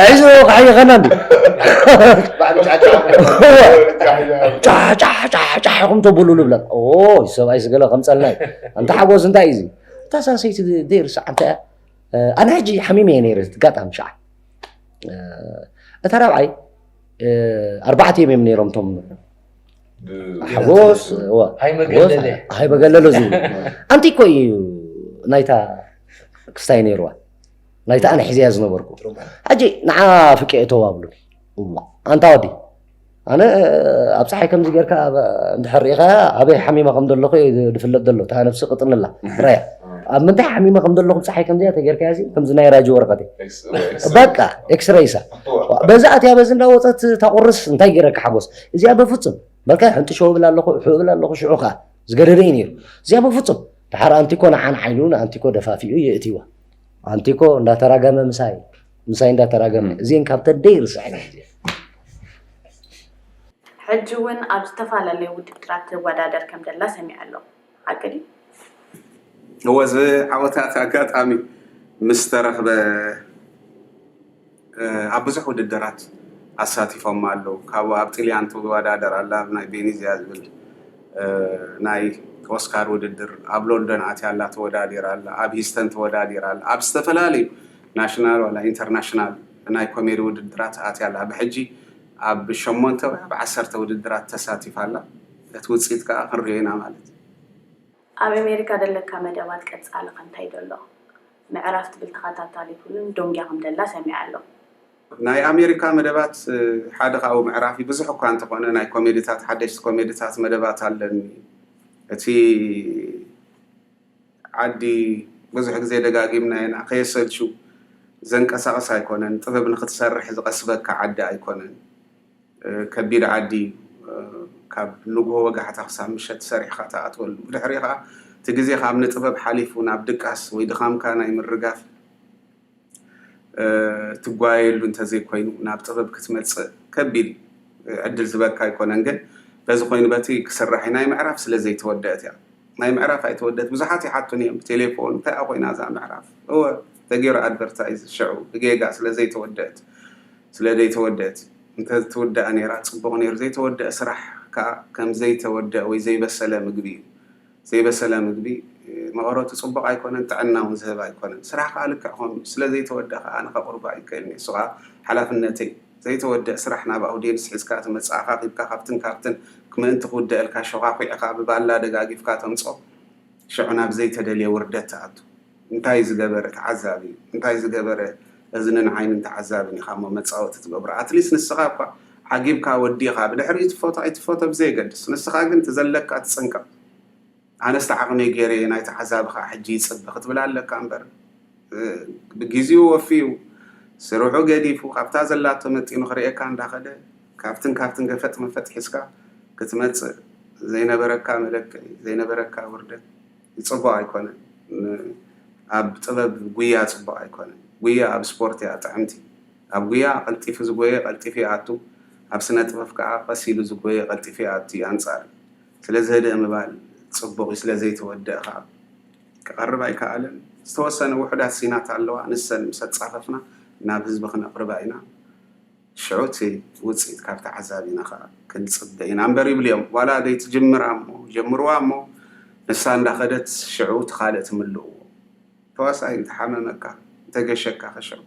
ሕዚ ክሓይኸና እንዲ ጫሕጫሕ ኢኹም ተብሉ ንብለን ኦ ሰብኣይ ስገለ ከምፀልና እዩ እንተ ሓጎስ እንታይ እዩ እታ ሳሰይቲ ዘይርሳዕ እንታይ ኣነ ሕጂ ሓሚመ እየ ነይረ ጋጣሚ ሸዓ እታ ራብዓይ ኣርባዕተ እዮም እዮም ነይሮም እቶም ሓጎስ ሃይ በገለለ ዝብሉ ኣንቲ እኮ እዩ ናይታ ክስታይ ነይርዋ ናይታ ኣነ ሒዘያ ዝነበርኩ ሕጂ ንዓ ፍቄ እተው ኣብሉ ኣንታ ወዲ ኣነ ኣብ ፀሓይ ከምዚ ጌርካ እንድሕር ሪኢኻ ኣበይ ሓሚማ ከም ዘለኹ ዝፍለጥ ዘሎ እታ ነብሲ ቅጥንላ ራያ ኣብ ምንታይ ሓሚማ ከም ዘለኹ ፀሓይ ከምዚኣ ተጌርካያ ከምዚ ናይ ራጂ ወረቐት እዩ በቃ ኤክስረይሳ በዛ ኣትያ በዚ እንዳወፀት ታቁርስ እንታይ ገይረካ ሓጎስ እዚኣ በፍፁም በልካ ሕንጥሾ ብል ኣለኹ ሑ ብል ኣለኹ ሽዑ ከዓ ዝገደደ እዩ ነይሩ እዚኣ በፍፁም ድሓር ኣንቲኮ ንዓን ዓይኑ ንኣንቲኮ ደፋፊኡ የእትዋ ኣንቲኮ እንዳተራገመ ምሳይ ምሳይ እንዳተራገመ እዚን ካብ ተደይ ርስዐ ሕጂ እውን ኣብ ዝተፈላለዩ ውድድራት ትወዳደር ከም ዘላ ሰሚዐ ኣለኹ ሓቂ ድዩ? እወ ዝዓወታት ኣጋጣሚ ምስ ተረኽበ ኣብ ብዙሕ ውድድራት ኣሳቲፎማ ኣለው ካብኡ ኣብ ጥልያን ትወዳደር ኣላ ኣብ ናይ ቤኒዝያ ዝብል ናይ ኦስካር ውድድር ኣብ ሎንዶን ኣትያ ኣላ ተወዳዲራ ኣላ ኣብ ሂስተን ተወዳዲራ ኣላ ኣብ ዝተፈላለዩ ናሽናል ዋላ ኢንተርናሽናል ናይ ኮሜዲ ውድድራት ኣትያ ኣላ ብሕጂ ኣብ ሸሞንተ ወይ ኣብ ዓሰርተ ውድድራት ተሳቲፋ ኣላ። እቲ ውጽኢት ከኣ ክንርእዮ ኢና ማለት እዩ። ኣብ ኣሜሪካ ደለካ መደባት ቀጻሊ ከ እንታይ ደሎ ምዕራፍ ትብል ተኸታታሊ ፍሉም ዶንጊያ ከም ደላ ሰሚዐ ኣለኹ። ናይ ኣሜሪካ መደባት ሓደ ካብኡ ምዕራፍ እዩ። ብዙሕ እኳ እንተኾነ ናይ ኮሜድታት ሓደሽቲ ኮሜድታት መደባት ኣለኒ። እቲ። ዓዲ ብዙሕ ግዜ ደጋጊምናዮ ኢና ከየሰልቹ ዘንቀሳቅስ ኣይኮነን ጥበብ ንክትሰርሕ ዝቀስበካ ዓዲ ኣይኮነን ከቢድ ዓዲ እዩ ካብ ንግሆ ወጋሕታ ክሳብ ምሸት ሰሪሕኻ ትኣትወሉ ብድሕሪኡ ከኣ እቲ ግዜኻ ኣብ ንጥበብ ሓሊፉ ናብ ድቃስ ወይ ድኻምካ ናይ ምርጋፍ ትጓየየሉ እንተዘይኮይኑ ናብ ጥበብ ክትመፅእ ከቢድ ዕድል ዝበካ ኣይኮነን ግን በዚ ኮይኑ በቲ ክስራሕ እዩ ናይ ምዕራፍ ስለ ዘይተወደአት እያ ናይ ምዕራፍ ኣይተወደት ብዙሓት ይሓቱን እዮም ብቴሌፎን እንታይ እያ ኮይና እዛ ምዕራፍ እወ ተገይሩ ኣድቨርታይዝ ሽዑ ብጌጋ ስለ ዘይተወደአት ስለ ዘይተወደአት እንተትውደኣ ነይራ ፅቡቕ ነይሩ ዘይተወደአ ስራሕ ከዓ ከም ዘይተወደአ ወይ ዘይበሰለ ምግቢ እዩ ዘይበሰለ ምግቢ መቐረቱ ጽቡቕ ኣይኮነን፣ ጥዕና እውን ዝህብ ኣይኮነን። ስራሕ ከኣ ልክዕ ከምኡ ስለ ዘይተወደኸ ኣነ ከቕርቦ ኣይክእልን'የ፣ እሱ ከኣ ሓላፍነተይ'ዩ። ዘይተወድእ ስራሕ ናብ ኣውድየንስ ሒዝካ ትመጽእ፣ ኣኻኺብካ ካብትን ካብትን ምእንቲ ክውደኣልካ ሾዃዂዕኻ ብባላ ደጋጊፍካ ተምጽኦ፣ ሸዑ ናብ ዘይተደልየ ውርደት ትኣቱ። እንታይ ዝገበረ ተዓዛቢ እንታይ ዝገበረ እዝንን ዓይንን ተዓዛብን ኢኻ እሞ መጻወቲ ትገብሮ ኣትሊስ ንስኻ እኳ ዓጊብካ ወዲኻ ብድሕሪኡ ትፈቶ ኣይትፈቶ ብዘየገድስ ንስኻ ግን ትዘለካ ትጽንቀቕ ኣነስ ተዓቕመይ ጌረ እየ ናይ ተዓዛቢ ከኣ ሕጂ ይጽበ ክትብል ኣለካ እምበር ብጊዜኡ ወፊዩ ስርሑ ገዲፉ ካብታ ዘላቶ መጢኑ ክርእየካ እንዳኸደ ካብትን ካብትን ገፈጥ መፈጥ ሒዝካ ክትመጽእ ዘይነበረካ መለክዒ ዘይነበረካ ውርደት ጽቡቅ ኣይኮነን ኣብ ጥበብ ጉያ ጽቡቅ ኣይኮነን ጉያ ኣብ ስፖርት እያ ጥዕምቲ ኣብ ጉያ ቀልጢፉ ዝጎየ ቀልጢፉ ይኣቱ ኣብ ስነጥበፍ ከኣ ቀስ ኢሉ ዝጎየ ቀልጢፉ ይኣቱ ኣንጻር እዩ ስለዚ ህድእ ምባል ጽቡቅ እዩ ስለ ዘይተወደእ ከኣ ክቀርብ ኣይከኣለን ዝተወሰነ ውሑዳት ሲናት ኣለዋ ንሰን ምስ ኣጻፈፍና ናብ ህዝቢ ክነቅርባ ኢና። ሽዑ እቲ ውጽኢት ካብ ተዓዛቢና ከኣ ክንጽበ ኢና እምበር ይብሉ እዮም። ዋላ ዘይትጅምራ እሞ ጀምርዋ እሞ ንሳ እንዳኸደት ሽዑ እቲ ካልእ ትምልእዎ። ተዋሳኣይ እንተሓመመካ እንተገሸካኸ ሽዑ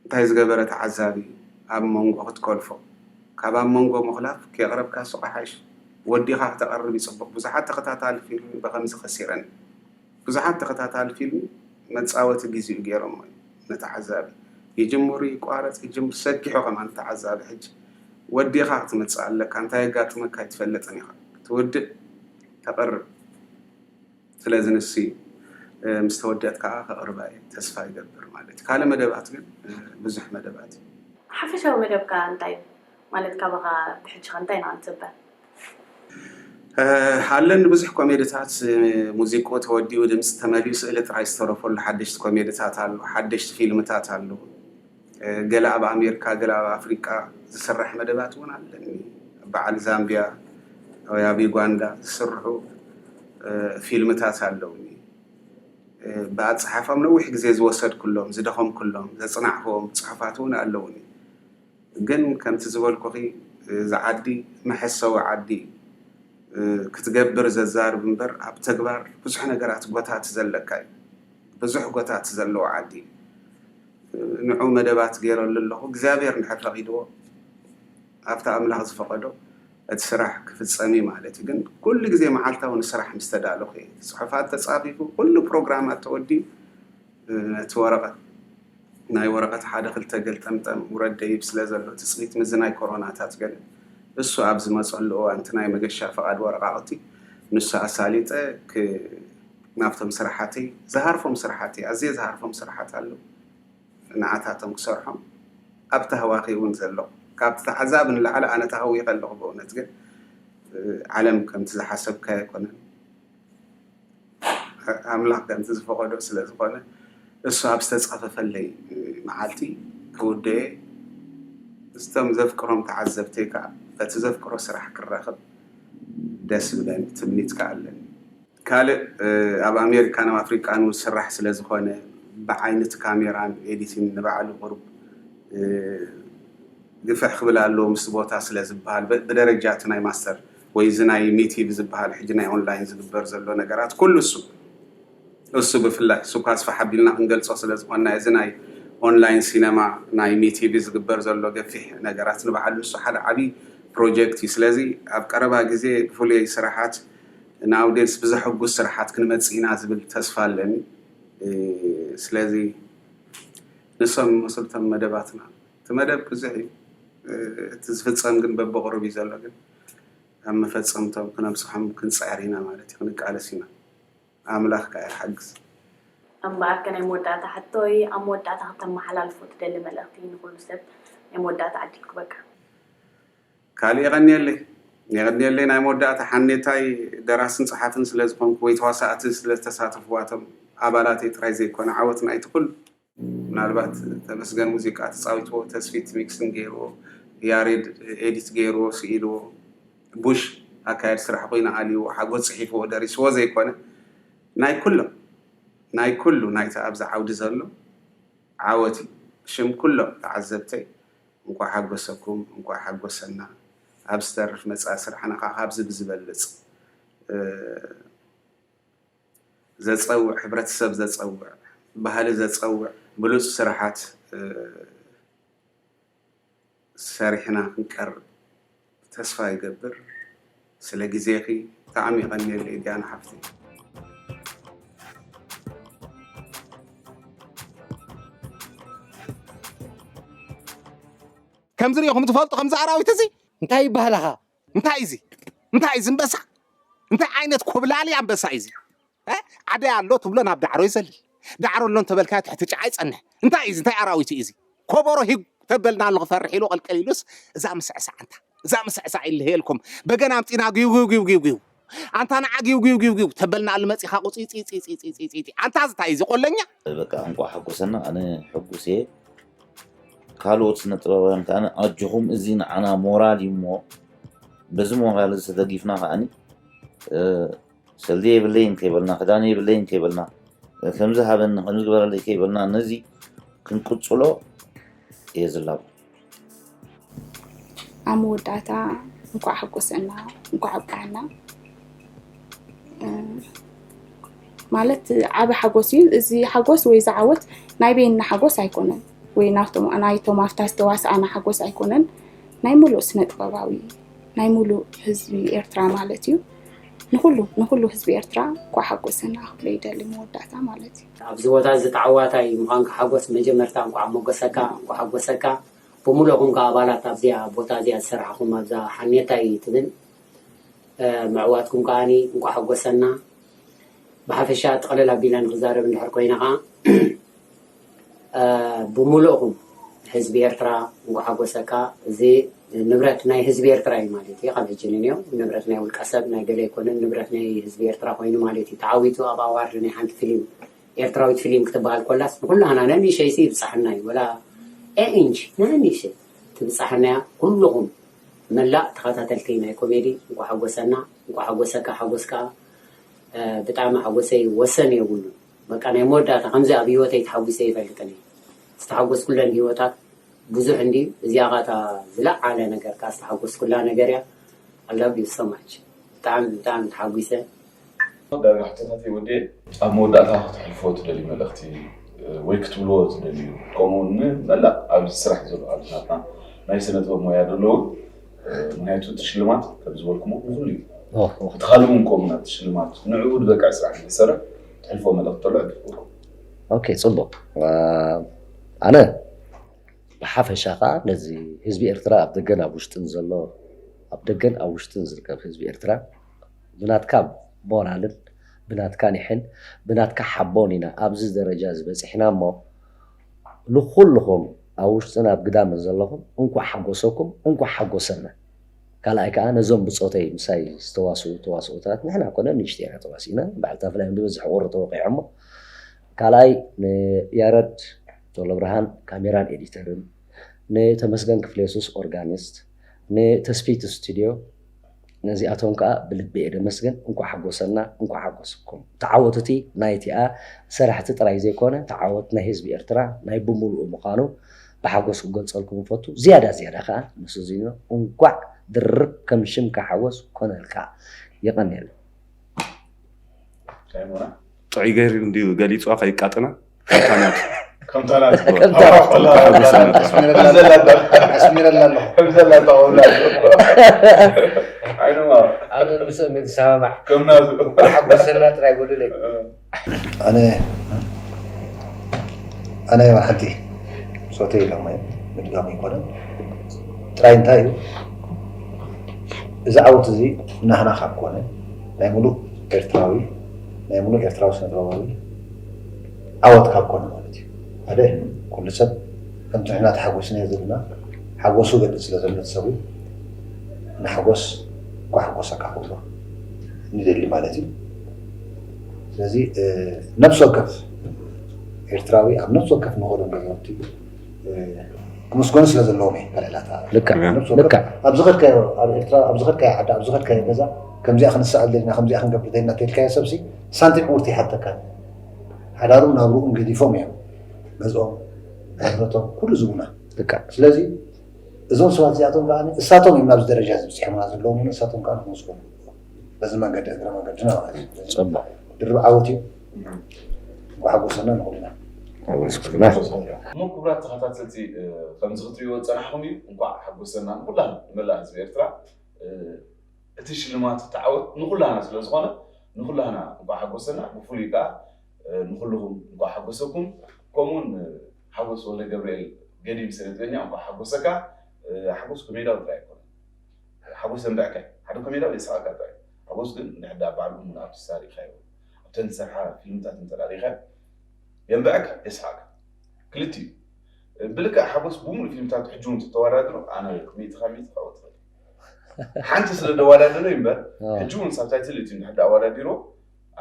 እንታይ ዝገበረ ተዓዛቢ ኣብ መንጎ ክትኮልፎ ካብ ኣብ መንጎ ምኹላፍ ከየቕረብካሱ ቀሓሽ ወዲኻ ክተቕርብ ይጽቡቕ ብዙሓት ተኸታታሊ ፊልሚ በኸምዚ ከሲረን። ብዙሓት ተኸታታሊ ፊልም መጻወቲ ግዚኡ ጌሮሞ ኢዮም ንተዓዛቢ ይጅምሩ ይቋረጽ ይጅምር ሰኪሑ ከማን ንተዓዛቢ ሕጂ ወዲእኻ ክትመጽእ ኣለካ እንታይ የጋጥመካ ኣይትፈልጥን ኢኻ ክትውድእ ተቅርብ ስለዚ ንሱ ኢዩ ምስ ተወድእት ከኣ ከቅርባ ኢየ ተስፋ ይገብር ማለት ኢዩ ካልእ መደባት ግን ብዙሕ መደባት ኢዩ ሓፈሻዊ መደብካ እንታይ ኢዩ? ማለት ካባኻ ብሕጂ ከ እንታይ ኢና ክንጽበ? ኣለኒ ብዙሕ ኮሜድታት ሙዚቁኡ ተወዲኡ ድምጺ ተመሊኡ ስእሊ ጥራይ ዝተረፈሉ ሓደሽቲ ኮሜድታት ኣሎ ሓደሽቲ ፊልምታት ኣሎ ገለ ኣብ ኣሜርካ ገለ ኣብ ኣፍሪቃ ዝስራሕ መደባት ውን ኣለኒ ኣብ በዓል ዛምብያ ወይ ኣብ ዩጋንዳ ዝስርሑ ፊልምታት ኣለውኒ ብኣጸሓሕፋም ነዊሕ ግዜ ዝወሰድኩሎም ዝደኸምኩሎም ዘጽናዕክዎም ጽሑፋት ውን ኣለውኒ ግን ከምቲ ዝበልኩኺ እዚ ዓዲ መሐሰዊ ዓዲ እዩ ክትገብር ዘዛርብ እምበር ኣብ ተግባር ብዙሕ ነገራት ጎታት ዘለካ እዩ ብዙሕ ጎታት ዘለዎ ዓዲ እዩ ንዑ መደባት ገይረሉ ኣለኹ እግዚኣብሔር እንድሕር ፈቂድዎ ኣብቲ ኣምላኽ ዝፈቀዶ እቲ ስራሕ ክፍፀም እዩ ማለት እዩ ግን ኩሉ ግዜ መዓልታዊ ንስራሕ ምስ ተዳለኹ እየ እቲ ፅሑፋት ተፃፊፉ ኩሉ ፕሮግራማት ተወዲኡ ነቲ ወረቐት ናይ ወረቐት ሓደ ክልተ ገልጠምጠም ውረድ ደይብ ስለ ዘሎ ትጽቢት ምዝናይ ኮሮናታት ገለ እሱ ኣብ ዝመጸሉ እዋን እቲ ናይ መገሻ ፍቓድ ወረቓቕቲ ንሱ ኣሳሊጠ ክ ናብቶም ስራሓተይ ዝሃርፎም ስራሓተይ ኣዝየ ዝሃርፎም ስራሓት ኣለዉ ንዓታቶም ክሰርሖም ኣብ ታህዋኺ እውን ዘለኹ ካብቲ ተዓዛቢ ንላዕሊ ኣነ ታህዊኸ ኣለኹ በእውነት ግን ዓለም ከምቲ ዝሓሰብካዮ ኣይኮነን። ኣምላኽ ከምቲ ዝፈቐዶ ስለ ዝኾነ እሱ ኣብ ዝተጻፈፈለይ መዓልቲ ክውደየ ምስቶም ዘፍቅሮም ተዓዘብተይ ከኣ በቲ ዘፍቅሮ ስራሕ ክራኸብ ደስ ዝብለኒ ትምኒት ከኣ ኣለኒ። ካልእ ኣብ ኣሜሪካን ኣብ ኣፍሪቃን እውን ዝስራሕ ስለ ዝኾነ ብዓይነት ካሜራን ኤዲቲን ንባዕሉ ቁሩብ ግፍሕ ክብል ኣለዎ ምስቲ ቦታ ስለ ዝበሃል ብደረጃ እቲ ናይ ማስተር ወይ እዚ ናይ ሚቲ ብዝብሃል ሕጂ ናይ ኦንላይን ዝግበር ዘሎ ነገራት ኩሉ እሱ እሱ ብፍላይ እሱ እኳ ስፋሕ ኣቢልና ክንገልጾ ስለ ዝኾንና እዚ ናይ ኦንላይን ሲነማ ናይ ሚቲቪ ዝግበር ዘሎ ገፊሕ ነገራት ንባዕሉ ንሱ ሓደ ዓብዪ ፕሮጀክት እዩ ስለዚ ኣብ ቀረባ ግዜ ብፍሉይ ስራሓት ንኣውዴንስ ብዘሐጉስ ስራሓት ክንመጽእ ኢና ዝብል ተስፋ ኣለኒ ስለዚ ንሶም ይመስሉ እቶም መደባትና እቲ መደብ ብዙሕ እዩ እቲ ዝፍጸም ግን በብቕሩብ እዩ ዘሎ ግን ኣብ መፈጸምቶም ክነብጽሖም ክንጽዕር ኢና ማለት እዩ ክንቃለስ ኢና ኣምላኽ ከኣ ይሓግዝ። እምበኣር ከ ናይ መወዳእታ ሕቶይ ኣብ መወዳእታ ክተመሓላልፎ ትደሊ መልእኽቲ ንኹሉ ሰብ ናይ መወዳእታ ዕድል ክበካ። ካልእ የቐንየለይ የቐንየለይ ናይ መወዳእታ ሓኔታይ ደራስን ጸሓፍን ስለ ዝኾንኩ ወይ ተዋሳእቲ ስለ ዝተሳተፍዋቶም ኣባላተይ ጥራይ ዘይኮነ ዓወት ናይቲ ኩሉ ምናልባት ተመስገን ሙዚቃ ተጻዊትዎ ተስፊት ሚክሲንግ ጌርዎ ያሬድ ኤዲት ጌርዎ ስኢልዎ ቡሽ ኣካያዲ ስራሕ ኮይኑ ኣልይዎ ሓጎስ ጽሒፍዎ ደሪስዎ ዘይኮነ ናይ ኩሎም ናይ ኩሉ ናይቲ ኣብዚ ዓውዲ ዘሎ ዓወት እዩ ብሽም ኩሎም ተዓዘብተይ እንቋዕ ሓጎሰኩም እንቋዕ ሓጎሰና ኣብ ዝተርፍ መጻኢ ስራሕና ከኣ ካብዚ ብዝበልጽ ዘጸውዕ ሕብረተሰብ ዘጸውዕ ባህሊ ዘጸውዕ ብሉጽ ስራሓት ሰሪሕና ክንቀርብ ተስፋ ይገብር ስለ ግዜኺ ብጣዕሚ የቐንየለይ ዲያና ሓፍተይ ከምዚ ሪኢኹም ትፈልጡ ከምዚ ኣራዊት እዚ እንታይ ይበሃላኻ እንታይ እዚ እንታይ እዚ እምበሳ እንታይ ዓይነት ኮብላሊ ኣንበሳ እዩ እዚ እ? ዓደይ ኣሎ ትብሎ ናብ ዳዕሮ ይዘልል ዳዕሮ ኣሎ እንተበልካዮ ትሕቲ ጨዓ ይጸንሕ እንታይ እዩ እዚ እንታይ ኣራዊት እዩ እዚ ኮቦሮ ሂግ ተበልና ኣሎ ክፈርሕ ኢሉ ቐልቀል ኢሉስ እዛ ምስዕሳዕ እንታ እዛ ምስዕሳዕ ይልህየልኩም በገና ኣምጺና ግውግውግውግው ኣንታ ንዓ ጊውጊውጊውጊው ተበል ንኣሉ መጺኻ ቁጺጺጺጺጺጺጺጺ ኣንታ እዚ ታይ እዚ ቆለኛ። በቃ እንቋዕ ሓጎሰና ኣነ ሕጉስ እየ ካልኦት ስነ ጥበባውያን ከኣ ኣጆኹም እዚ ንዓና ሞራል እዩ እሞ በዚ ሞራል እዚ ተደጊፍና ከኣኒ ሰልዲ የብለይን ከይበልና ክዳን የብለይን ከይበልና ከምዚ ሃበኒ ከምዚ ግበረለይ ከይበልና ነዚ ክንቅጽሎ እየ ዝላቦ ኣብ መወዳእታ እንኳዕ ሓጎሰና እንኳዕ ኣብቅዓና ማለት ዓበ ሓጎስ እዩ እዚ ሓጎስ ወይ እዚ ዓወት ናይ በይንና ሓጎስ ኣይኮነን ወይ ናይቶም ኣብታ ዝተዋስኣና ሓጎስ ኣይኮነን ናይ ሙሉእ ስነ ጥበባዊ ናይ ሙሉእ ህዝቢ ኤርትራ ማለት እዩ ንኩሉ ንኩሉ ህዝቢ ኤርትራ እንኳዕ ሓጎሰና ክብሎ ይደሊ መወዳእታ ማለት እዩ ኣብዚ ቦታ እዚ ተዓዋታይ ምዃንካ ሓጎስ መጀመርታ እንኳዕ ሞጎሰካ እንኳዕ ሓጎሰካ ብሙሉእኹም ከኣ ኣባላት ኣብዚኣ ቦታ እዚኣ ዝሰራሕኹም ኣብዛ ሓኔታይ ትብል ምዕዋትኩም ከኣ እንኳዕ ሓጎሰና ብሓፈሻ ጥቅልል ኣቢለ ንክዛረብ እንድሕር ኮይነ ከኣ ብሙሉእኹም ህዝቢ ኤርትራ እንኳዕ ሓጎሰካ እዚ ንብረት ናይ ህዝቢ ኤርትራ እዩ ማለት እዩ ካብ ሕጂ ንንዮ ንብረት ናይ ውልቀ ሰብ ናይ ገለ ኣይኮነን ንብረት ናይ ህዝቢ ኤርትራ ኮይኑ ማለት እዩ ተዓዊቱ ኣብ ኣዋርድ ናይ ሓንቲ ፍሊም ኤርትራዊት ፍሊም ክትበሃል ኮላስ ንኩላህና ነንእሸይሲ ይብጻሕና እዩ ወላ ኤኢንች ነንእሸይ ትብጻሕና እያ ኩሉኹም መላእ ተኸታተልቲ ናይ ኮሜዲ እንኳ ሓጎሰና እንኳ ሓጎሰካ ሓጎስ ከዓ ብጣዕሚ ሓጎሰይ ወሰን የብሉን በቃ ናይ መወዳእታ ከምዚ ኣብ ሂወተይ ተሓጒሰ ኣይፈልጥን እየ ዝተሓጎስኩለን ሂወታት ብዙሕ እንድዩ እዚኣ ከኣ እታ ዝለዓለ ነገር ከኣ ዝተሓጎስኩላ ነገር እያ I love you so much ብጣዕሚ ብጣዕሚ ተሓጒሰ። ዳርጋ ሕቶታተይ ወዲኤ ኣብ መወዳእታ ክተሕልፍዎ ትደልዩ መልእኽቲ ወይ ክትብልዎ ትደልዩ ከምኡ ውን ንመላእ ኣብዚ ስራሕ ዘሎ ኣሉታትና ናይ ስነ ጥበብ ሞያ ደለዉ ምክንያቱ እቲ ሽልማት ከምዝበልኩሞ ንኩሉ እዩ ትካልኩም ከምኡ ናብቲ ሽልማት ንዕኡ ዝበቅዕ ስራሕ ንክሰርሕ ትሕልፎ መልእኽቲ ተሎ ዕድልኩም ኦኬ ፅቡቅ ኣነ ብሓፈሻ ከዓ ነዚ ህዝቢ ኤርትራ ኣብ ደገን ኣብ ውሽጥን ዘሎ ኣብ ደገን ኣብ ውሽጥን ዝርከብ ህዝቢ ኤርትራ ብናትካ ሞራልን ብናትካ ኒሕን ብናትካ ሓቦን ኢና ኣብዚ ደረጃ እዚ በፂሕና እሞ ንኩልኩም ኣብ ውሽጥን ኣብ ግዳምን ዘለኩም እንኳዕ ሓጎሰኩም እንኳዕ ሓጎሰና ካልኣይ ከኣ ነዞም ብጾተይ ምሳይ ዝተዋስኡ ተዋስኦታት ንሕና ኮነ ንእሽተይ ኢና ተዋሲእና በዓል ታፍላዮም ዝበዝሕ ቁሪ ተወቂዖሞ ካልኣይ ንያረድ ቶለብርሃን ካሜራን ኤዲተርን ንተመስገን ክፍሌሱስ ኦርጋኒስት ንተስፊት ስቱድዮ ነዚኣቶም ከኣ ብልቢ እየ ደመስግን እንኳዕ ሓጎሰና እንኳዕ ሓጎስኩም ተዓወት እቲ ናይ እቲኣ ሰራሕቲ ጥራይ ዘይኮነ ተዓወት ናይ ህዝቢ ኤርትራ ናይ ብሙሉኡ ምኻኑ ብሓጎስ ክገልጸልኩም እፈቱ ዝያዳ ዝያዳ ከኣ ንሱዚንዮ እንኳዕ ድርብ ከም ሽምካ ሓጎስ ኮነልካ የቀንየልና። ጥዑይ ገይሩ እንድዩ ገሊጹዋ ከይቃጥና። ጥራይ እንታይ እዩ እዚ ዓወት እዚ ናህና ካብ ኮነ ናይ ሙሉእ ኤርትራዊ ናይ ሙሉእ ኤርትራዊ ስነጥበባዊ ዓወት ካብ ኮነ ማለት እዩ ሓደ ኩሉ ሰብ ከምቲ ንሕና ተሓጎስናዮ ዘለና ሓጎሱ ገልጽ ስለ ዘሎ እቲ ሰብውን ንሓጎስ እንኳዕ ሓጎሰካ ክብሎ ንደሊ ማለት እዩ ስለዚ ነብሲ ወከፍ ኤርትራዊ ኣብ ነብሲ ወከፍ ንኸዶ ገዛውቲ ክምስገኑ ስለ ዘለዎም እየ ከልዕላታ ኣብ ዝኸድካዮ ኣብ ኤርትራ ኣብ ዝኸድካዮ ዓዲ ኣብ ዝኸድካዮ ገዛ ከምዚኣ ክንስዕል ደሊና ከምዚኣ ክንገብር ደሊና ተልካዮ ሰብሲ ሳንቲም ዕውርቲ ይሓተካን ሓዳሩን ናብርኡን ገዲፎም እዮም ገዝኦም ንብረቶም ኩሉ ዝቡና ስለዚ እዞም ሰባት እዚኣቶም ከዓ እሳቶም እዮም ናብዚ ደረጃ እዚ ብፅሖምና ዘለዎም እውን እሳቶም ከዓ ንክምስገኑ በዚ መንገዲ እግረ መንገድና ማለት እዩ ፅቡቅ ድርብ ዓወት እዩ ጓሓጎሰና ንኩልና እሞ ክቡራት ተኸታተልቲ ከምዚ ክትሪእዎ ዝፀናሕኹም እዩ እንኳዕ ሓጎሰና ንኩላን ንመላእ ህዝቢ ኤርትራ እቲ ሽልማት እቲ ዓወት ንኹላና ስለ ዝኾነ ንኹላና እንኳዕ ሓጎሰና ብፍሉይ ከኣ ንኹሉኹም እንኳዕ ሓጎሰኩም ከምኡውን ሓጎስ ወልደገብርኤል ገዲም ስነጥበኛ እንኳዕ ሓጎሰካ ሓጎስ ኮሜዳዊ ጥራይ ኣይኮነን ሓጎስ ዘንብዐካ እዩ ሓደ ኮሜዳዊ የስሓቀካ ጥራይ እዩ ሓጎስ ግን እንድሕር ደኣ በዓል እሙን ኣርቲስታ ርኢኻዮ ኣብተን ዝሰርሓ ፊልምታት እንተ ርኢኻዮ የንብዐካ የስሓቀካ ክልቲኡ ብልክዕ ሓጎስ ብሙሉእ ፊልምታቱ ሕጂ እውን ተተወዳድሮ ኣነ ሚእቲ ካብ ሚእቲ ከእወ ትኽእል ሓንቲ ስለ ደዋዳደረ እዩ እምበር ሕጂ እውን ሳብታይትል እቲ ንድሕር ኣወዳዲሮ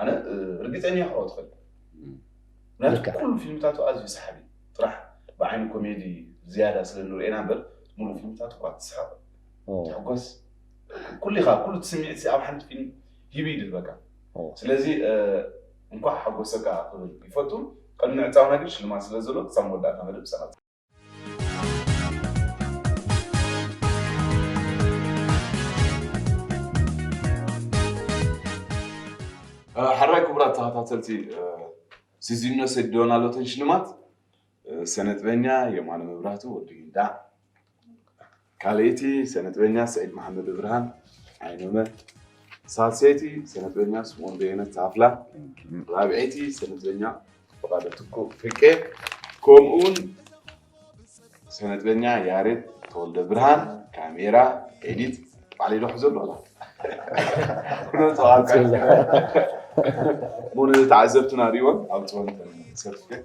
ኣነ ርግፀኛ ክኸው ትኽእል ምክንያቱ ኩሉ ፊልምታቱ ኣዝዩ ሰሓቢ ጥራሕ ብዓይኒ ኮሜዲ ዝያዳ ስለ ንርእና እምበር ሙሉእ ፊልምታቱ እኳ ትስሕቕ ትሕጎስ ኩሉ ኢኻ ኩሉ ትስምዒት ኣብ ሓንቲ ፊልም ሂቡ ይድህበካ ስለዚ እንኳዕ ሓጎሰካ ክብል ይፈቱ ቅድሚ ዕፃውና ግን ሽልማት ስለ ዘሎ ክሳብ መወዳእታ መደብ ሰቐ ሓራይ ክቡራት ተኸታተልቲ ሲዚኖ ሴዶና ሎተን ሽልማት ሰነጥበኛ የማነ መብራህቱ ወዲ ጊንዳዕ ካልኣይቲ ሰነጥበኛ ስዒድ መሓመድብርሃን፣ ዓይኖመ፣ ሳልሰይቲ ሰነጥበኛ ስምኦን በየነ፣ ታፍላ፣ ራብዐይቲ ሰነጥበኛ ፍቓደ ትኩእ፣ ፍቄ፣ ከምኡውን ሰነጥበኛ ያሬድ ተወልደብርሃን፣ ካሜራ፣ ኤዲት፣ ባዕለይ ዶ ሕዘሉ ኣላ ሞነ ተዓዘብትና ሪእዎን ኣውፅኦን ሰርቲፊኬት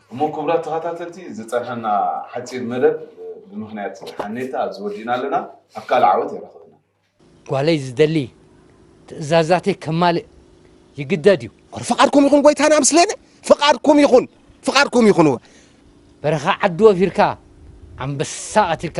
እሞ ክቡራት ተኸታተልቲ ዝጸንሐና ሓጺር መደብ ብምኽንያት ሓኔታ ኣብዚ ወዲእና ኣለና። ኣብ ካልእ ዓወት የራኽበና። ጓለይ ዝደሊ ትእዛዛተይ ከማልእ ይግደድ እዩ። ኧረ ፍቓድኩም ይኹን ጐይታና ምስሌነ ፍቓድኩም ይኹን ፍቓድኩም ይኹን እወ። በረኻ ዓዲ ወፊርካ ኣንበሳ ቀቲልካ።